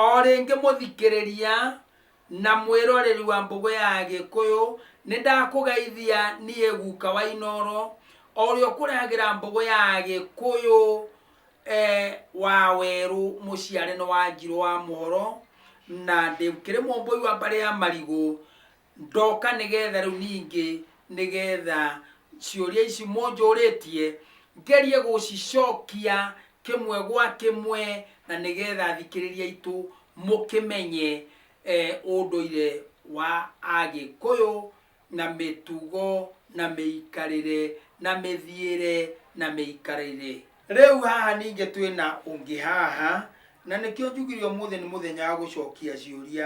O rĩngĩ mũthikĩrĩria na mwĩroreri wa Mbũgũ ya Agĩkũyũ, nĩ ndakũgeithia niĩ guka wa Inooro, o ũrĩa ũkũrehagĩra Mbũgũ ya Agĩkũyũ wa werũ mũciare nĩ Wanjirũ wa Mũhoro, na ndĩkĩrĩ mũmbũi wa mbarĩ ya Marigũ, Ndoka nĩgeetha rĩu ningĩ nĩgeetha ciũria ici mũnjũrĩtie ngerie gũcicokia kĩmwe gwa kĩmwe na nĩgeetha athikĩrĩria aitũ mũkĩmenye eh, ũndũire wa Agĩkũyũ na mĩtugo na mĩikarĩre na mĩthiĩre na mĩikarĩre. Rĩu haha ningĩ twĩna ũngĩ haha na nĩkĩo njugire ũmũthĩ nĩ mũthenya wa gũcokia ciũria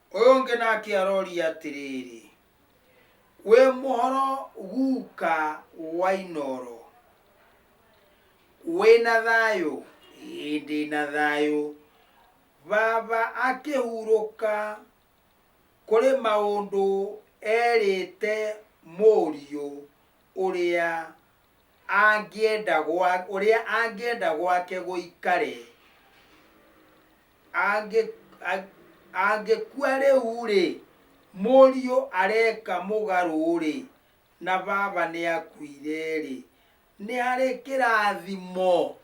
ũyũ ũngĩ nake aroria atĩrĩrĩ wĩ mũhoro guka wa inoro wĩna thayũ hĩndĩ na thayũ baba akĩhurũka kũrĩ maũndũ erĩte mũriũ ũrĩa angĩenda gwa- ũrĩa angĩenda gwake gũikare angĩ- a- angĩkua rĩu-rĩ, mũriũ areka mũgarũ-rĩ, na baba nĩakuire-rĩ, nĩ harĩ kĩrathimo?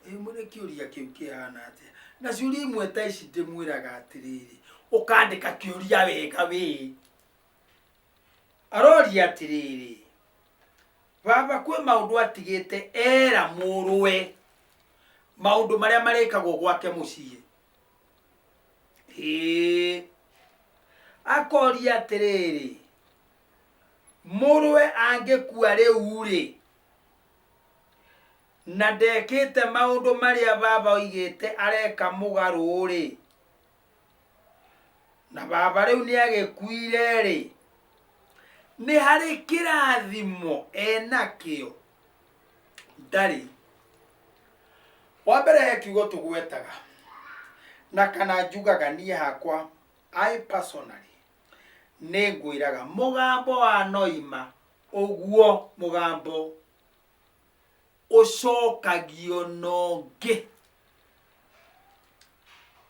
Ĩ, mwĩre kĩũria kĩu kĩhana atĩa? Na ciũria imwe ta ici ndĩmwĩraga atĩrĩrĩ, ũkandĩka kĩũria wega wĩ. Aroria atĩrĩrĩ, Baba kwĩ maũndũ atigĩte era mũrũwe maũndũ marĩa marĩkagwo gwake mũciĩ Ĩĩ. akoria atĩrĩrĩ mũrũwe angĩkua rĩu-rĩ na ndekĩte maũndũ marĩa baba oigĩte areka mũgarũ-rĩ na baba rĩu nĩ agĩkuire-rĩ nĩ harĩ kĩrathimo enakĩo ndarĩ wa mbere he kiugo tũgwetaga na kana njugaga niĩ hakwa i personally nĩ ngwĩraga mũgambo wa noima ũguo mũgambo ũcokagio nongĩ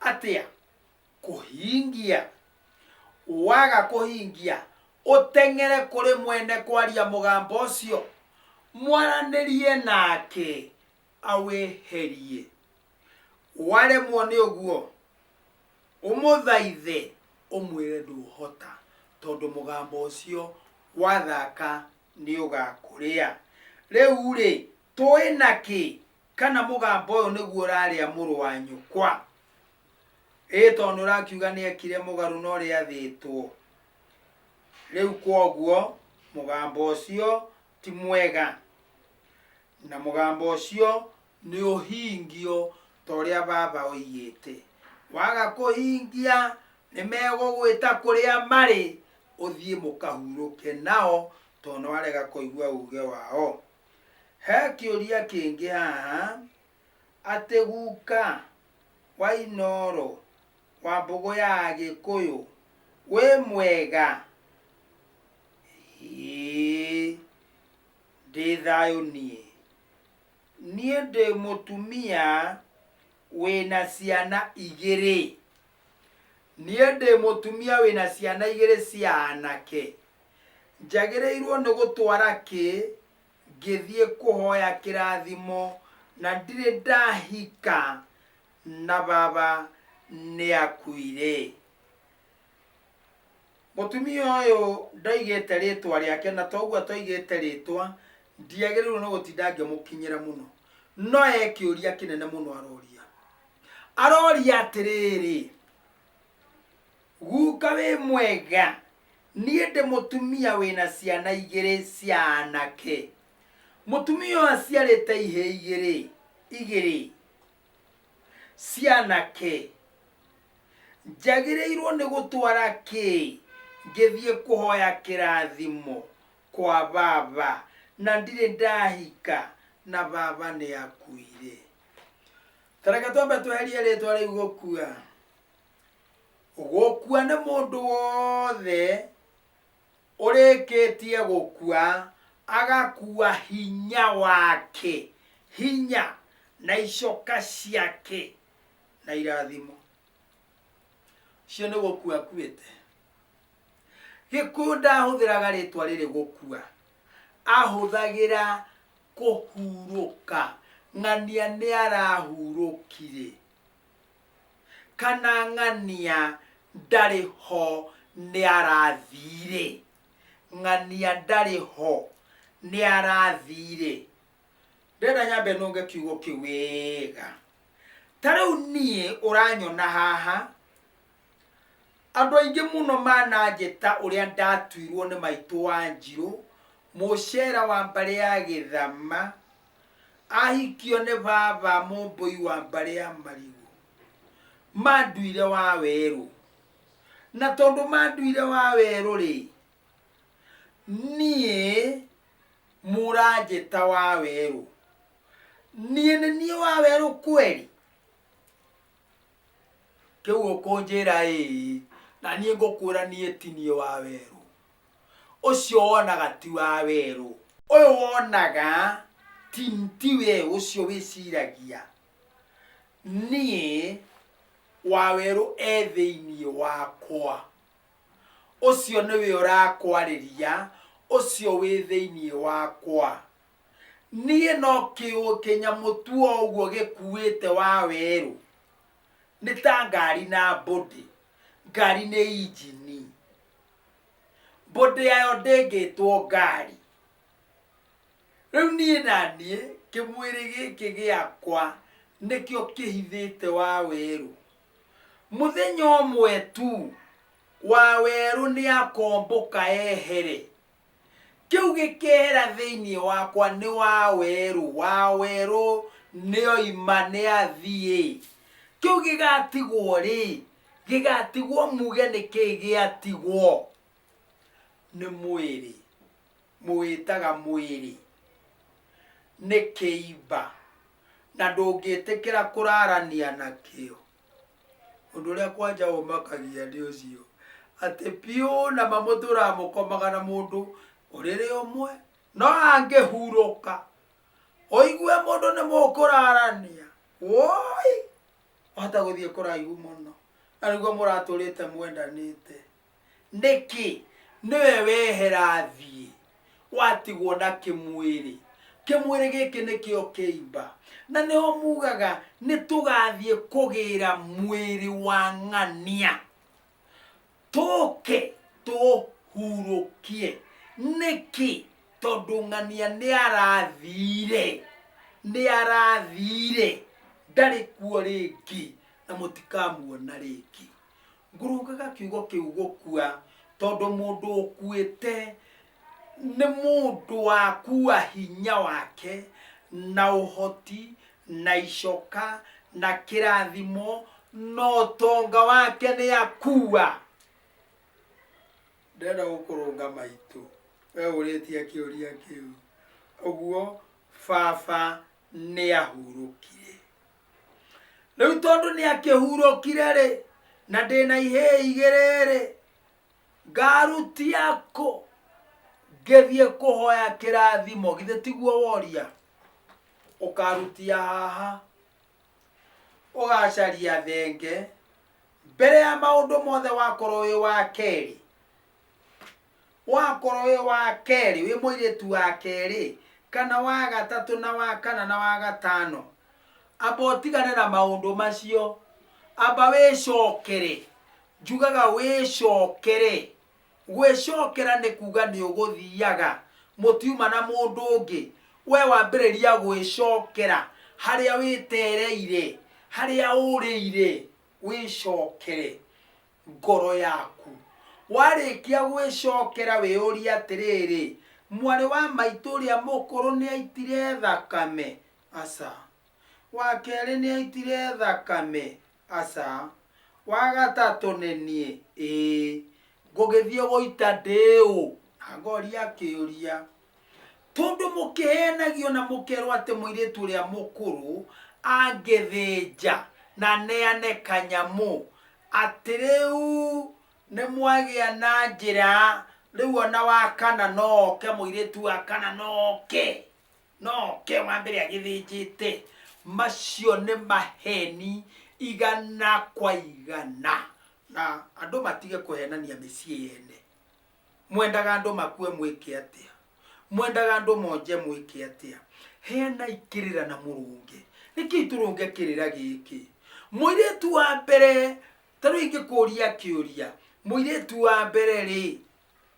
atĩa kũhingia waga kũhingia ũteng'ere kũrĩ mwene kwaria mũgambo ũcio mwaranĩrie nake awĩherie waremwo nĩ ũguo ũmũthaithe ũmwĩre ndũhota tondũ mũgambo ũcio wathaka nĩ ũgakũrĩa. Rĩu-rĩ, tũĩ na kĩ kana mũgamba ũyũ nĩguo ũrarĩa mũrũ wa nyũkwa? Ĩĩ tondũ nĩ ũrakiuga nĩ ekire mũgarũ na ũrĩa athĩtwo. Rĩu kwoguo mũgamba ũcio ti mwega. Na mũgamba ũcio nĩũhingio ta ũrĩa Baba oigĩte. Waga kũhingia, nĩmegũgwĩta kũrĩa marĩ, ũthiĩ mũkahurũke nao, tondũ nĩwarega kũigua uge wao. He kĩũria kĩngĩ haha, atĩ guka wa Inooro wa mbũgũ ya Agĩkũyũ wĩ mwega? Ĩĩ, ndĩ thayũ niĩ. Niĩ ndĩ mũtumia wĩna ciana igĩrĩ. Niĩ ndĩ mũtumia wĩna ciana igĩrĩ cia anake. Njagĩrĩirwo nĩ gũtwara kĩ ngĩthiĩ kũhoya kĩrathimo na ndirĩ ndahika na baba nĩakuire? Mũtumia ũyũ ndaigĩte rĩtwa rĩake na toguo atoigĩte rĩtwa ndiagĩrĩirwo nĩ gũtinda ngĩmũkinyĩra mũno. No e kĩũria kĩnene mũno aroria. Aroria atĩrĩrĩ, guka wĩ mwega, niĩ ndĩ mũtumia wĩna ciana igĩrĩ cia anake. Mũtumia ũyũ aciarĩte ihĩĩ igĩrĩ igĩrĩ. cianake njagĩrĩirwo nĩ gũtwara kĩ ngĩthiĩ kũhoya kĩrathimo kwa baba na ndirĩ ndahika na baba nĩ akuire tareke twambe tweherie rĩtwa rĩu gũkua gũkua nĩ mũndũ wothe Ũrĩkĩtie gũkua, agakua hinya wake, hinya, na icoka ciake, na irathimo. Ũcio nĩ gũkua akuĩte. Gĩkũyũ ndahũthĩraga rĩtwa rĩrĩ gũkua, ahũthagĩra kũhurũka, ng'ania nĩ arahurũkire. Kana ng'ania ndarĩ ho nĩarathiirĩ? Ng'ania ndarĩ ho nĩarathiirĩ? Ndĩrenda nyambe nũnge kiugo kĩu wega. Ta rĩu niĩ ũranyona haha, andũ aingĩ mũno mananjĩta ũrĩa ndatuirwo nĩ maitũ Wanjirũ, mũcera wa mbarĩ ya Gĩthama, Ahikio nĩ baba mũmbũi wa mbarĩ ya marigũ. Manduire wa werũ. Na tondũ manduire wa werũ rĩ, niĩ mũranjĩta wa werũ. Niĩ nĩ niĩ wa werũ kweli? kĩu ũkũnjĩra-ĩĩ, na niĩ ngũkwĩra niĩ ti niĩ wa werũ. Ũcio wonaga ti wa werũ. Ũyũ wonaga ti ti we ũcio wĩciragia, niĩ wa werũ e thĩinĩ wakwa. Ũcio nĩwe ũrakwarĩria, ũcio wĩ thĩinĩ wakwa. niĩ no kĩũ- kĩnyamũ tu o ũguo gĩkuĩte wa werũ nĩ ta ngari na body ngari nĩ injini body yayo ndĩngĩtwo ngari rĩu niĩ na niĩ kĩmwĩrĩ gĩkĩ gĩakwa nĩkĩo kĩhithĩte wa werũ mũthenya ũmwe tu wa werũ nĩakombũka ehere Kĩu gĩkeera thĩinĩ wakwa, Nĩ wa werũ, wa werũ nĩoima, nĩathiĩ. Kĩu gĩgaatigwo-rĩ, gĩgaatigwo muge nĩ kĩĩ gĩatigwo? Nĩ mwĩrĩ. Mũwĩtaga mwĩrĩ. Nĩ kĩimba. Na ndũngĩtĩkĩra kũraarania nakĩo. Ũndũ ũrĩa kwanja ũmakagia nĩ ũcio atĩ biũ na mamũtũraga mũkomaga na mũndũ ũrĩrĩ ũmwe, no angĩhurũka ũigue mũndũ nĩ mũkũrarania wũi! Wahota gũthiĩ kũraihu mũno na nĩguo mũratũrĩte mwendanĩte. Nĩkĩ? Nĩwe wehera athiĩ, watigwo na kĩmwĩrĩ. Kĩmwĩrĩ gĩkĩ nĩkĩo kĩimba. Na nĩho mugaga nĩtũgathiĩ kũgĩra mwĩrĩ wa ng'ania, tũke tũũhurũkie. Nĩkĩ? Tondũ ng'ania nĩarathire, nĩarathire, ndarĩ kuo rĩngĩ, na mũtikamuona rĩngĩ. Ngũrũngaga kiugo kĩu gũkua tondũ mũndũ ũkuĩte nĩ mũndũ wakua hinya wake na ũhoti na icoka na kĩrathimo na ũtonga wake nĩ akua ndĩrenda gũkũrũnga maitũ we ũrĩtie kĩũria kĩu ũguo baba nĩ ahurũkire rĩu tondũ nĩ akĩhurũkire-rĩ na ndĩ na ihĩ igĩrĩ-rĩ ngarutia kũ ngĩthiĩ kũhoya kĩrathimo githĩ tiguo woria ũkarutia haha ũgacaria thenge mbere ya maũndũ mothe wakorwo wĩ wa kerĩ Wakorwo wĩ wa kerĩ, wĩ mũirĩtu wa kerĩ, kana wa gatatũ, na wa kana, na wa gatano, amba ũtigane na maũndũ macio. Amba wĩcokere. Njugaga wĩcokere. Gwĩcokera nĩ kuga nĩ ũgũthiaga, mũtiuma na mũndũ ũngĩ, we wambĩrĩria gwĩcokera harĩa wĩtereire, harĩa ũrĩire, wĩcokere. ngoro yaku warĩkia gwĩcokera wĩyũrie atĩrĩrĩ mwarĩ wa maitũ ũrĩa mũkũrũ nĩ aitire thakame aca wa kerĩ nĩ aitire thakame aca wa gatatũ nĩ niĩ ĩĩ ngũgĩthiĩ gũita ndĩũ na ngoria kĩũria tondũ mũkĩheenagio na mũkerwo atĩ mũirĩtu ũrĩa mũkũrũ angĩthĩnja na neane kanyamũ atĩ rĩu nĩ mwagĩa na njĩra rĩu ona wa kana no oke mũirĩtu wa kana no oke no oke wa mbere agĩthĩnjĩte macio nĩ maheni igana kwa igana na andũ matige kũhenania mĩciĩ yene Mwendaga andũ makue mwĩke atĩa? Mwendaga andũ monje mwĩke atĩa? Heanai kĩrĩra na mũrũnge. Nĩkĩi tũrũnge kĩrĩra gĩkĩ? Mũirĩtu wa mbere, ta rĩu ingĩkũria kĩũria, mũirĩtu wa mbere rĩ,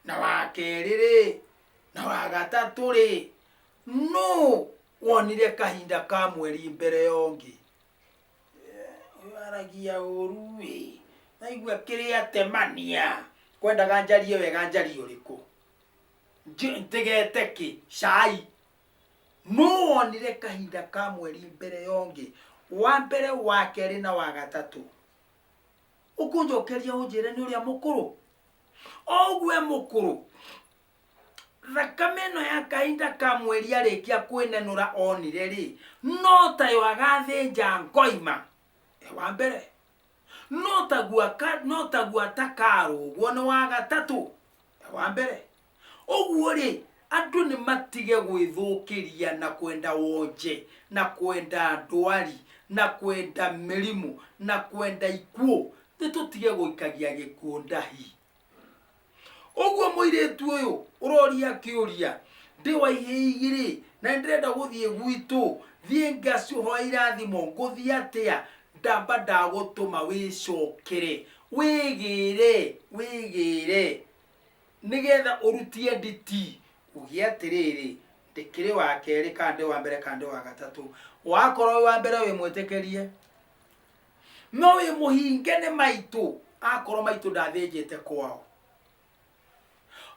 na wa kerĩ rĩ, na wa gatatũ rĩ, nũ wonire kahinda ka mweri mbere ya ũngĩ? Ũyũ aragia ũru ĩ. Naigua kĩrĩa atemania. Kwendaga njarie wega njarie ũrĩkũ? Nj- Njĩgete kĩ? Cai. Nũ wonire kahinda ka mweri mbere ya ũngĩ? Wa mbere, wa kerĩ na wa gatatũ. Ũkũnjokeria ũnjĩre nĩ ũrĩa mũkũrũ? O ũguo e mũkũrũ. thakame ĩno ya kahinda ka mweri arĩkia kwĩnenũra onire rĩ no tayo agathĩnja ngoima e wa mbere no taguo aka- no taguo atakarũgwo nĩ wa gatatũ e wa mbere ũguo rĩ andũ nĩ matige gwĩthũkĩria na kwenda wonje na kwenda ndwari na kwenda mĩrimũ na kwenda ikuũ nĩ tũtige gũikagia gĩkuũ ndahi ũguo mũirĩtu ũyũ ũroria kĩũria ndĩ wa ihĩigirĩ na nĩndĩrenda gũthiĩ gwitũ thiĩ ngaciũhoya irathimo ngũthiĩ atĩa ndamba ndagũtũma wĩcokere wĩgĩre wĩgĩre nĩgetha ũrutie nditi uge atĩrĩrĩ ndĩkĩrĩ wa kerĩ kana ndĩ wa mbere kana ndĩ wa gatatũ wakorwo wĩ wa mbere wĩ mwĩtĩkĩrie no wĩ mũhinge nĩ maitũ akorwo maitũ ndathĩnjĩte kwao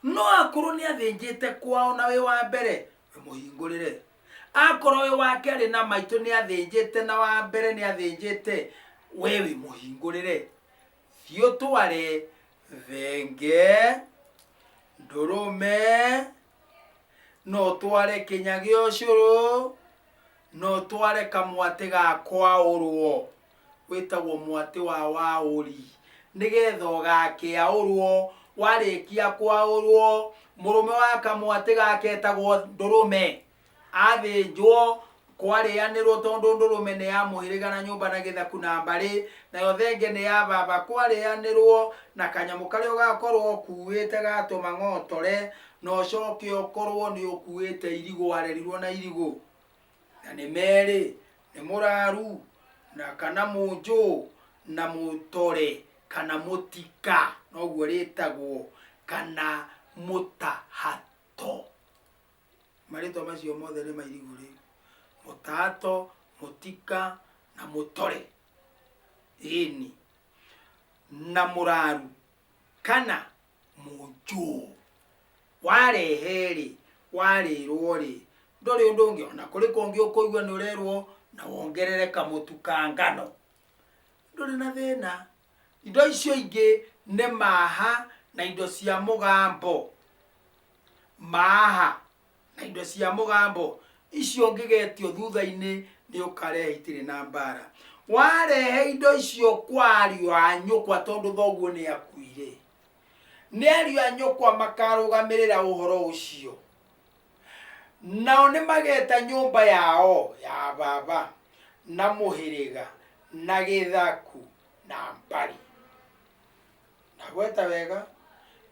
no akorwo nĩ athĩnjĩte kwao na wĩ wa mbere wĩ mũhingũrĩre akorwo wĩ wa kerĩ na maitũ nĩ athĩnjĩte na wa mbere nĩ athĩnjĩte we wĩ mũhingũrĩre thiĩ ũtware thenge ndũrũme no tware kĩnya gĩa ũcũrũ no tware kamwatĩ ga kwaũrwo wĩtagwo mwatĩ wa waũri nĩgetha ũgakĩaũrwo warĩkia kwaũrwo mũrũme wa kamwatĩ gake etagwo ndũrũme athĩnjwo, kwarĩanĩrwo tondũ ndũrũme nĩ ya mũhĩrĩga na nyũmba na gĩthaku na mbarĩ, nayo thenge nĩ ya baba, kwarĩanĩrwo, na kanyamũ karĩa ũgakorwo ũkuuĩte ga tũmang'otore, na ũcoke ũkorwo nĩ ũkuuĩte irigũ, warerirwo na irigũ. Na nĩ merĩ, nĩ mũraru, na kana mũnjũ, na mũtore, kana mũtika, noguo rĩtagwo, kana mũtahato. marĩtwa macio mothe nĩ mairigũ rĩu mũtato mũtika na mũtore ĩni na mũraru kana mũnjũ warehe-rĩ warĩrwo-rĩ ndũrĩ ũndũ ũngĩ ona kũrĩ kũngĩ ũkũigua nĩ ũrerwo na wongerere kamũtu ka ngano ndũrĩ na thĩna Indo icio ingĩ nĩ maaha na indo cia mũgambo. Maaha na indo cia mũgambo icio ngĩgetio thutha-inĩ nĩ ũkarehe itirĩ na mbaara. Warehe indo icio kwa ariũ a nyũkwa tondũ thoguo nĩ akuire, nĩ ariũ a nyũkwa makarũgamĩrĩra ũhoro ũcio. Nao nĩmageeta nyũmba yao ya baba na mũhĩrĩga na gĩthaku na mbarĩ. Ndagweta wega?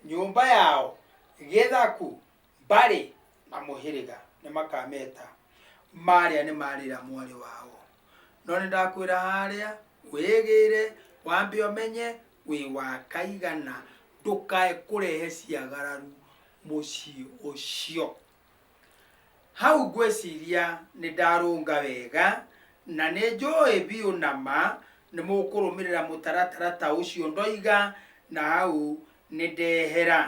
Nyũmba yao, gĩthaku, mbarĩ na mũhĩrĩga nĩmakameta. Marĩa nĩmarĩra mwarĩ wao. No nĩndakwĩra harĩa, wĩgĩĩre, wambe ũmenye wĩ wa kaigana, ndũkae kũrehe ciagararu. mũciĩ ũcio. Hau ngwĩciria nĩ ndarũnga wega na nĩ njũĩ biũ na ma nĩ mũkũrũmĩrĩra mũtaratara ta ũcio ndoiga na hau nĩ ndehera.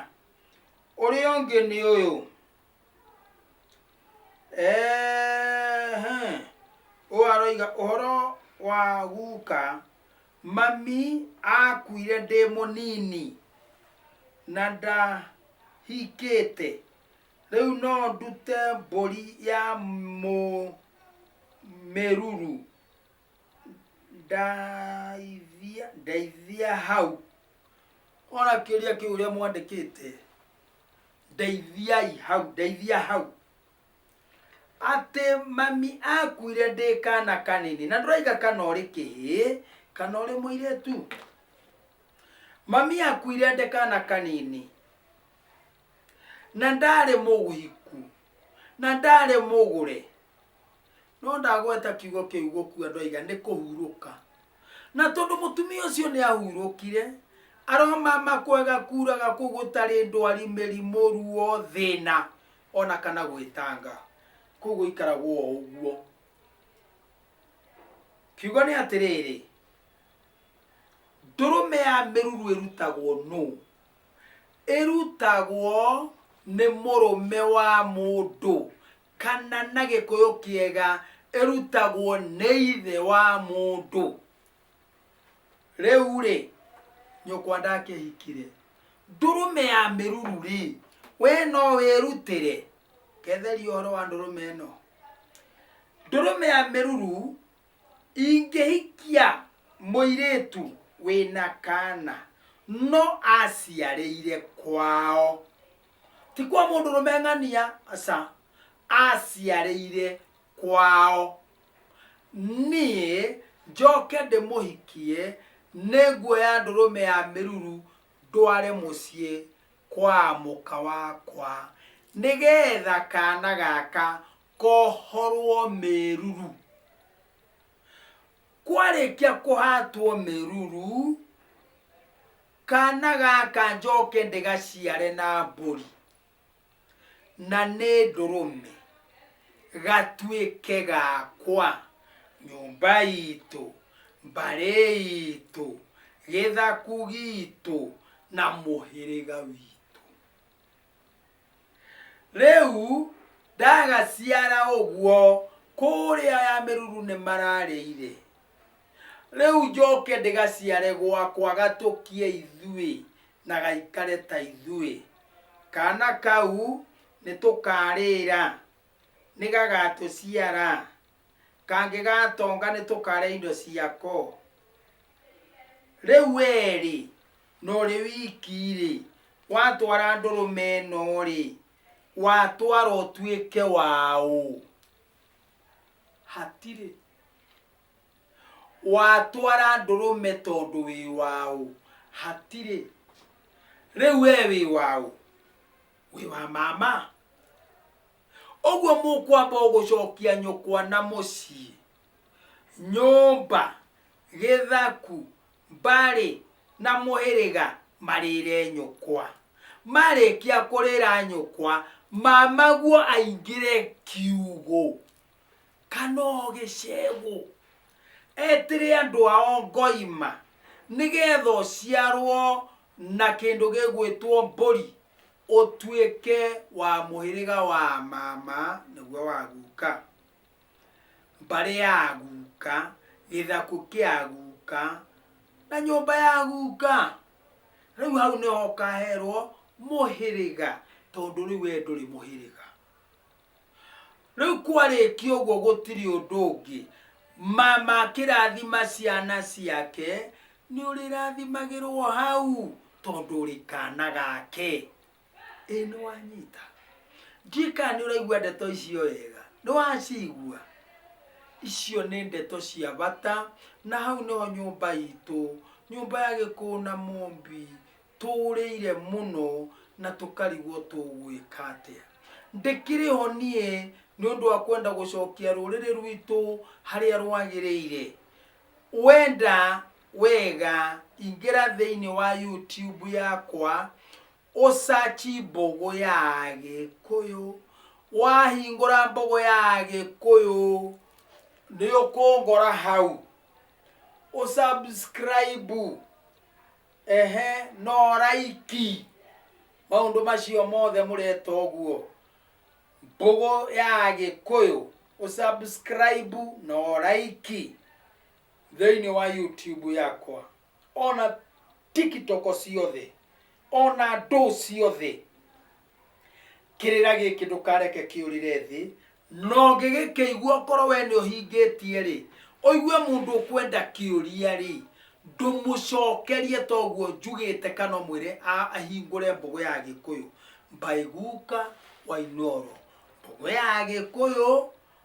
Ũrĩa ũngĩ nĩ ũyũ. Ehe. Ũyũ aroiga ũhoro wa guka Mami aakuire ndĩ mũnini na ndahikĩte. Rĩu no ndute mbũri ya mũmĩruru ndaithia, ndeithia hau. Ona kĩũria kĩu ũrĩa mwandĩkĩte, ndeithiai hau, ndeithia hau. atĩ mami akuire ndĩ kana kanini na ndũraiga kana ũrĩ kĩhĩ kana ũrĩ mũirĩtu mami akuire ndĩ kana kanini na ndarĩ mũhiku na ndarĩ mũgũre no ndagweta kiugo kĩu gũkua andũ aiga nĩ kũhurũka na tondũ mũtumia ũcio nĩ ahurũkire aromama kwega kuraga kũu gũtarĩ ndwari mĩrimũ ruo thĩna ona kana gwĩtanga kũu gũikaragwo o ũguo kiugo nĩ atĩrĩrĩ ndũrũme ya mĩruru ĩrutagwo nũ ĩrutagwo nĩ mũrũme wa mũndũ kana na gĩkũyũ kĩega ĩrutagwo nĩ ithe wa mũndũ rĩu rĩ nyũkwa ndakĩhikire ndũrũme ya mĩruru rĩ we no wĩrutĩre ketheria ũhoro wa ndũrũme ĩno ndũrũme ya mĩruru ingĩhikia mũirĩtu wĩna kana no aciarĩire kwao ti kwa mũndũ rũme ng'ania aca aciarĩire kwao, niĩ njoke ndĩmũhikie, nĩnguoya ndũrũme ya mĩruru ndware mũciĩ kwa mũka wakwa, nĩgetha kaana gaka kohorwo mĩruru. Kwarĩkia kũhatwo mĩruru, kaana gaka njoke ndĩgaciare na mbũri. na nĩ ndũrũme gatuĩke gakwa nyũmba itũ mbarĩ itũ gĩthaku gitũ na mũhĩrĩga witũ rĩu ndagaciara ũguo kũrĩa ya mĩruru nĩ mararĩire rĩu njoke ndĩgaciare gwakwa gatũkie ithuĩ na gaikare ta ithuĩ. Kaana kau nĩ tũkaarĩĩra, nĩ gagatũciara, kangĩgatonga nĩ tũkaarĩa indo ciako. Rĩu wee-rĩ, na ũrĩ wiki-rĩ, watwara ndũrũme ĩno-rĩ, watwara ũtuĩke waũ? Hatirĩ. Watwara ndũrũme tondũ wĩ wa ũ? Hatirĩ. Rĩu we wĩ wa ũ? Wĩ wa mama? Ũguo mũkwamba ũgũcokia nyũkwa na mũciĩ. Nyũmba, gĩthaku, mbarĩ na mũhĩrĩga marĩre nyũkwa. Marĩkia kũrĩra nyũkwa, mamaguo aingĩre kiugũ. kana o gĩcegũ etĩre andũ ao ngoima nĩgetha ũciarwo na kĩndũ gĩgwĩtwo mbũri ũtuĩke wa mũhĩrĩga wa mama nĩguo wa guka mbarĩ ya guka gĩthakũ kĩa guka na nyũmba ya guka rĩu hau nĩho ũkaherwo mũhĩrĩga tondũ rĩu we ndũrĩ mũhĩrĩga. rĩu kwarĩkia ũguo gũtirĩ ũndũ ũngĩ mama akĩrathima ciana ciake nĩ ũrĩrathimagĩrwo hau tondũ ũrĩ kana gake ĩ nĩ wanyita ndiĩ kana nĩ ũraigua ndeto icio wega nĩ wacigua icio nĩ ndeto cia bata na hau nĩho nyũmba itũ nyũmba ya gĩkũũ na mũmbi tũũrĩire mũno na tũkarigwo tũgwĩka atĩa ndĩkĩrĩ ho niĩ nĩ ũndũ wa kwenda gũcokia rũrĩrĩ rwitũ harĩa rwagĩrĩire wenda wega ingĩra thĩinĩ wa youtube yakwa ũcaci mbogo ya gĩkũyũ wahingũra mbogo ya gĩkũyũ nĩ ũkũngora hau ũsubscribe Ehe, no raiki maũndũ macio mothe mũreta ũguo mbũgũ ya gĩkũyũ ũsubscribe na ũraiki thĩinĩ wa youtube yakwa ona tiktok ciothe ona ndũ ciothe kĩrĩra gĩkĩ ndũkareke kĩũrĩre thĩ na ũngĩgĩkĩigua ũkorwo we nĩ ũhingĩtie-rĩ ũigue mũndũ ũkwenda kĩũria-rĩ ndũmũcokerie toguo njugĩte kana ũmwĩre a- ahingũre mbũgũ ya gĩkũyũ mbaiguka wainoro mbũgũ ya gĩkũyũ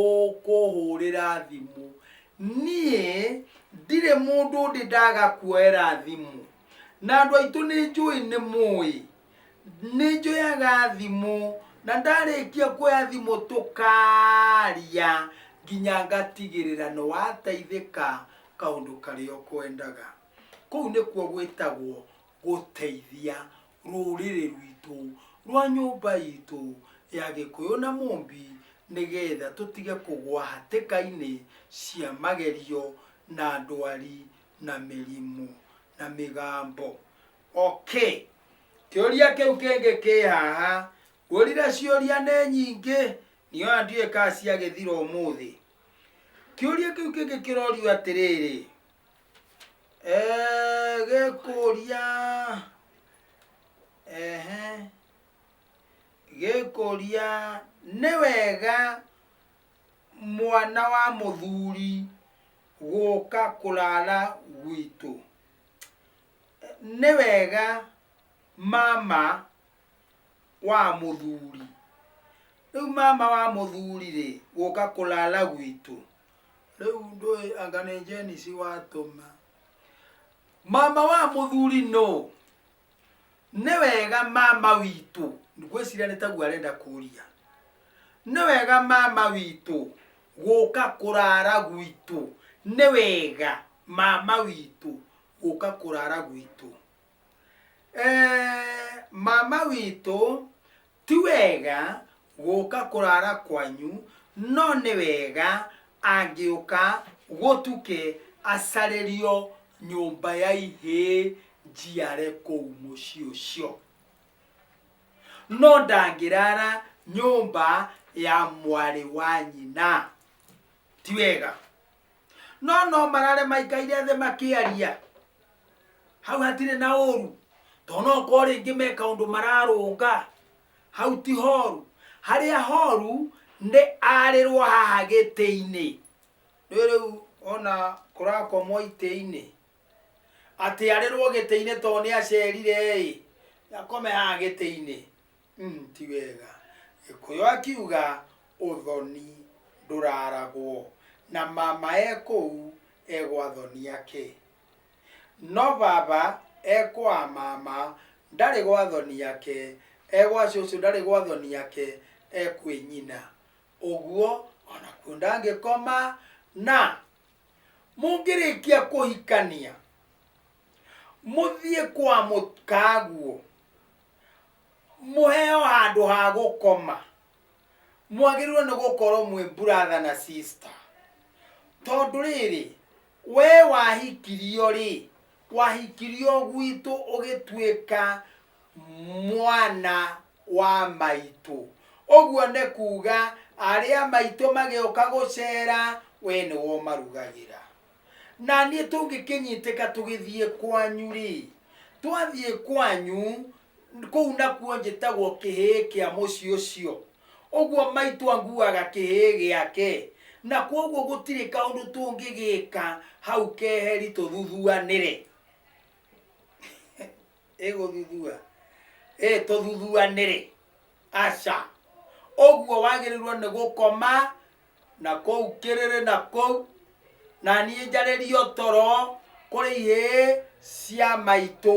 ũkũhũrĩra thimũ niĩ ndirĩ mũndũ ndĩ ndaga kuoera thimũ na andũ aitũ nĩ njũĩ nĩ mũĩ nĩ njoyaga thimũ na ndarĩkia kuoya thimũ tũkaria nginya ngatigĩrĩra nĩ wateithĩka kaũndũ karĩa ũkwendaga kũu nĩkuo gwĩtagwo gũteithia rũrĩrĩ rwitũ rwa nyũmba itũ ya gĩkũyũ na mũmbi nĩgetha tũtige kũgwa hatĩka-inĩ cia magerio na ndwari na mĩrimũ na mĩgambo. Okay, kĩũria kĩu kĩngĩ kĩ haha, ngũrire ciũria nĩ nyingĩ, niĩ ona ndiũĩ kana ciagĩthira ũmũthĩ. Kĩũria kĩu kĩngĩ kĩrorio atĩrĩrĩ, Eeh gekoria ehe gekoria nĩwega mwana wa mũthuri gũka kũrara gwitũ? Nĩwega mama wa mũthuri, rĩu mama wa mũthuri-rĩ gũka kũrara gwitũ? rĩu ndũĩ anga nĩ jenisi watũma mama wa mũthuri no nĩ wega mama witũ ngwĩciria nĩ taguo arenda kũria nĩ wega mama witũ gũka kũrara gwitũ nĩ wega mama witũ gũka kũrara gwitũ Eh, mama witũ Ti wega gũka kũrara kwanyu no nĩ wega angĩũka gũtuke acarĩrio nyũmba ya ihĩ njiare kũu mũciĩ ũcio. No ndangĩrara nyũmba ya mwarĩ wa nyina. Ti wega. no no marare maikaire thĩ makĩaria hau hatirĩ na ũru tondũ no korwo rĩngĩ me kaũndũ mararũnga hau ti horu harĩa horu nĩ arĩrwo haha gĩtĩ-inĩ nĩ rĩu ona kũrakomwo itĩ-inĩ atĩ arĩrwo gĩtĩ-inĩ tondũ nĩ acerire ĩ akome haha gĩtĩ-inĩ Mm, ti wega gĩkũyũ akiuga ũthoni ndũraragwo na mama e kũu egwa thoni yake no baba ekwa mama ndarĩ gwa thoni yake egwa cũcũ ndarĩ gwa thoni yake ekwĩ nyina ũguo ona kuo ndangĩkoma na mũngĩrĩkia kũhikania mũthiĩ kwa mũkaguo mũheo handũ ha gũkoma mwagĩrĩirwo nĩ gũkorwo mwĩ brother na sister tondũ rĩrĩ we wahikirio rĩ wahikirio gwitũ ũgĩtuĩka mwana wa maitũ ũguo nĩ kuga arĩa maitũ magĩũka gũcera we nĩwe ũmarugagĩra naniĩ tũngĩkĩnyitĩka tũgĩthiĩ kwanyu-rĩ twathiĩ kwanyu kũu nakuo njĩtagwo kĩhĩĩ kĩa mũciĩ ũcio ũguo maitũ anguaga kĩhĩĩ gĩake na kwoguo gũtirĩ kaũndũ tũngĩgĩka hau keheri tũthuthuanĩre ĩgũthuthua ĩtũthuthua nĩrĩ aca ũguo wagĩrĩirwo nĩ gũkoma na kũu kĩrĩrĩ na kũu na niĩ njarĩrio toro kũrĩ ihĩĩ cia maitũ